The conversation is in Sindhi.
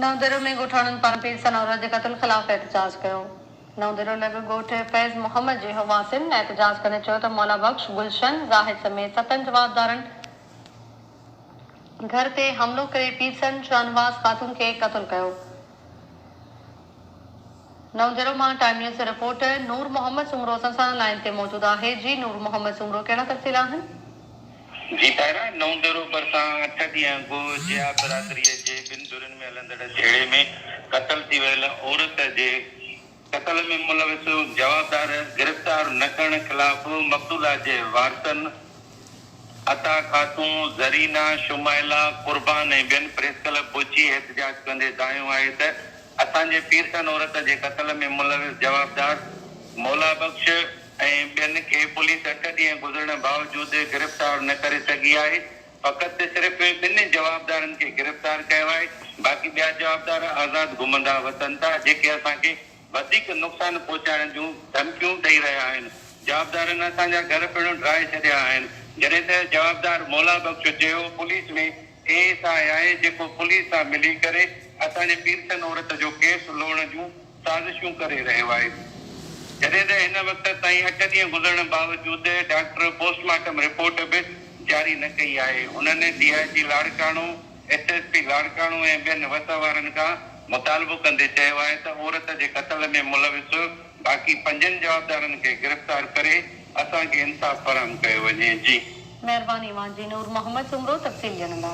نئون ديرو ۾ ڳوٺاڻن پاران پير ثناءالله جي قتل خلاف احتجاج ڪيو. نئون ديرو لڳ ڳوٺ فيض محمد جي هواسين احتجاج ڪندي چيو ته مولا بخش، گلشن، زاهد سميت ستن جوابدارن گهر تي حملو ڪري پير ثن شاهنواز خاتون کي قتل ڪيو. نوجهرو مان ٽائيم نيوز جي رپورٽر نور محمد سومرو اسان سان لائين تي موجود آهي جي نور محمد سومرو ڪهڙا تفصيل آهن؟ جي طاهرا، نوجهرو ڀرسان اٺ ڏينهن اڳ جيا برادري جي ٻن ڌرين ۾ هلندڙ جهيڙي ۾ قتل ٿي ويل عورت جي قتل ۾ ملوث جوابدار گرفتار نه ڪرڻ خلاف مقتولا جي وارثن عطا خاتون، زرينا، شمائلا، قربان ۽ ٻين پريس ڪلب پهچي احتجاج ڪندي دانهيو آهي ته اسان جي پيرسن عورت جي قتل ۾ ملوث جوابدار مولا بخش ۽ ٻين کي پوليس اٺ ڏينهن گذرڻ باوجود گرفتار نه ڪري سگهي آهي فقط صرف ٻن جوابدارن کي گرفتار ڪيو آهي باقي ٻيا جوابدار آزاد گهمندا وتن ٿا جيڪي اسان کي وڌيڪ نقصان پهچائڻ جون ڌمڪيون ڏئي رهيا آهن، جوابدارن اسان جا گهر پڻ ڊاهي ڇڏيا آهن، جڏهن ته جوابدار مولا بخش جيو پوليس ۾ اي ايس آء آهي جيڪو پوليس سان ملي ڪري اسان جي پيرسن عورت جو ڪيس لوڙهڻ جون سازشون ڪري رهيو آهي، جڏهن ته هن وقت تائين اٺ ڏينهن گذرڻ باوجود ڊاڪٽر پوسٽ مارٽم رپورٽ به جاري نه ڪئي آهي، انهن D I G Larkana. S S P Larkana ۽ ٻين وس وارن کان مطالبو ڪندي چيو آهي ته عورت جي قتل ۾ ملوث باقي پنجن جوابدارن کي گرفتار ڪري اسان کي انصاف فراهم ڪيو وڃي جي. مهرباني اوهان جي نور محمد سومرو تفصيل ڄڻندا.